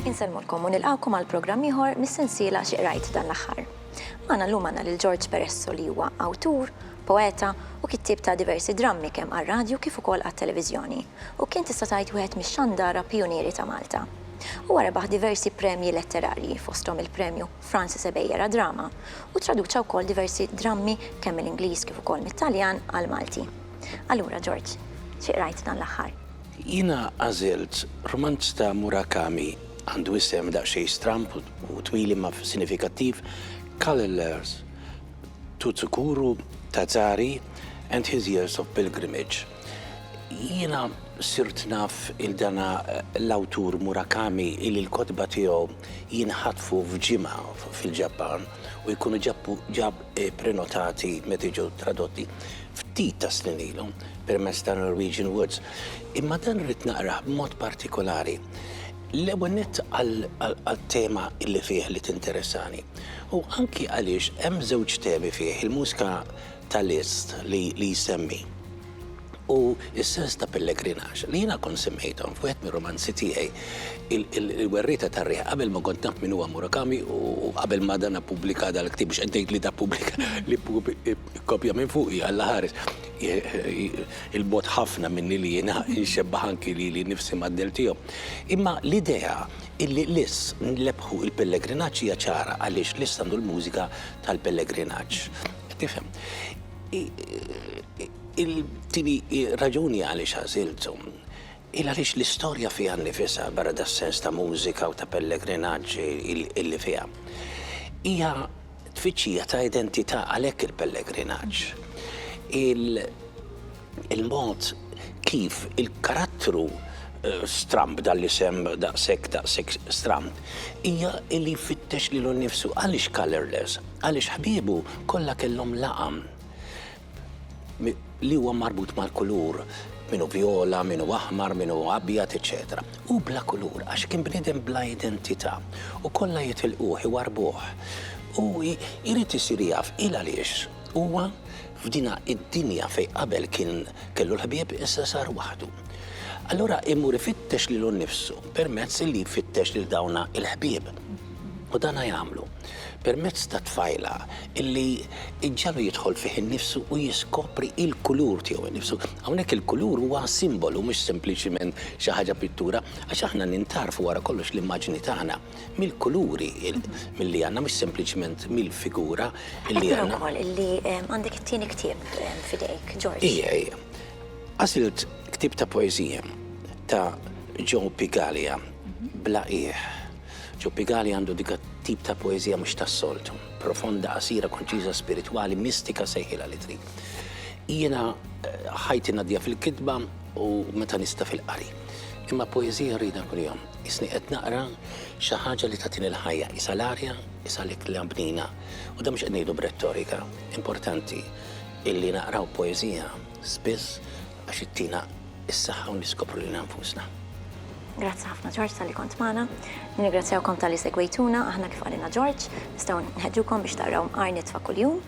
Insellmulkom u nilqgħukom għal programm ieħor mis-sensiela Xi Qrajt dan l-aħħar. Magħna llum għandna lil George Peresso li huwa awtur, poeta u kittieb ta' diversi drammi kemm għar-radju kif ukoll għat-televiżjoni u kien tista' tgħid wieħed mix-xandara pijunieri ta' Malta. Huwa rebaħ diversi premji letterarji, fosthom il-Premju Francis Ebejer għad-Drama, u ttraduċa wkoll diversi drammi kemm mill-Ingliż kif ukoll mit-Taljan għall-Malti. Allura, George, xi qrajt dan l-aħħar? Jiena għażilt rumanz ta' Murakami, għandu isem daqsxejn stramb u twil imma sinifikattiv, Colorless to Tsukuru Tazari and His Years of Pilgrimage. Jiena sirt naf il dana l-awtur Murakami illi l-kotba tiegħu jinħatfu f'ġimgħa fil-Ġappan u jkunu ġab prenotati meta jiġu tradotti ftit ta' snin ilu permezz ta' Norwegian Woods. Imma dan rrid naqrah b'mod partikolari. L-ewwel nett għat-tema illi fih li tinteressani u anki għaliex hemm żewġ temi fih, il-mużika ta' list li li jsemmi u s-sens ta' pellegrinaġġ li jiena kont semmejthom f'wieħed mir-rumanzi tiegħi il-werrieta tar-riħ qabel ma kont naf min huwa Murakami u qabel ma dan appubblika dal-ktieb biex qed ngħid li dappubblika li kkopja minn fuqi Alla ħares il-bogħod ħafna minni li jiena nxebbah anki lili nnifsi mad-dell tiegħu. Imma l-idea illi liss nlebbħu il-pellegrinaġġ hija ċara għaliex liss għandu l-mużika tal-pellegrinaġġ. Tifhem. Il-tieni raġuni għaliex għażiltu il għaliex l-istorja fiha nnifisha, barra das-sens ta' mużika u ta' pellegrinaġġ illi fiha, hija tfittxija ta' identità għalhekk il-pellegrinaġġ. Il-mod kif il-karattru stramb, dan l-isem daqshekk daqshekk stramb, hija li jfittex lilu nnifsu. Għaliex colourless? Għaliex ħbiebu kollha kellhom laqam li huwa marbut mal-kulur, min hu vjola, min hu aħmar, min hu abjad, eċċetera. Hu bla kulur għax kien bniedem bla identità u kollha jitilquh, iwarrbuh. U jrid isir jaf il-għaliex huwa F'dinha id-dinja fejn qabel kien kellu l-ħbieb issa sar waħdu. Allura imur ifittex lilu nnifsu permezz li jfittex lil dawna il-ħbieb. U dana jagħmlu permezz ta' tfajla illi iġġagħlu jidħol fih innifsu u jiskopri il-kulur tiegħu innifsu. Hawnhekk il-kulur huwa simbolu mhux sempliċiment xi ħaġa pittura għax aħna nintarfu wara kollox l-immaġni tagħna. mill-kuluri li għandna mhux sempliċement mill-figura li għandna. Qed nara wkoll li għandek it-tieni ktieb f'idejk, George. Ija, ija. Għażilt ktieb ta' poeżija ta' Joe Pigaglia, Bla Qiegħ. Joe Pigaglia għandu dik tip ta' poeżija mhux tas-soltu, profonda, qasira, konċiża, spiritwali, mistika sejħilha li trid. Jiena ħajti ngħaddiha fil-kitba u meta nista' fil-qari. Imma poeżija nridha kuljum. Qisni qed naqra xi ħaġa li tagħtini l-ħajja, qisha l-arja, qisha l-ikla bnina. U dan mhux qed ngħidu b'rettorika. Importanti illi naqraw poeżija spiss għax ittina s-saħħa u niskopru lilna nfusna. Grazzi ħafna Ġorġ talli kont magħna. Nirringrazzjawkom talli segwejtuna. Aħna kif qalilna Ġorġ, nistgħu nħeġġukom biex taqraw Mqar Nitfa' Kuljum.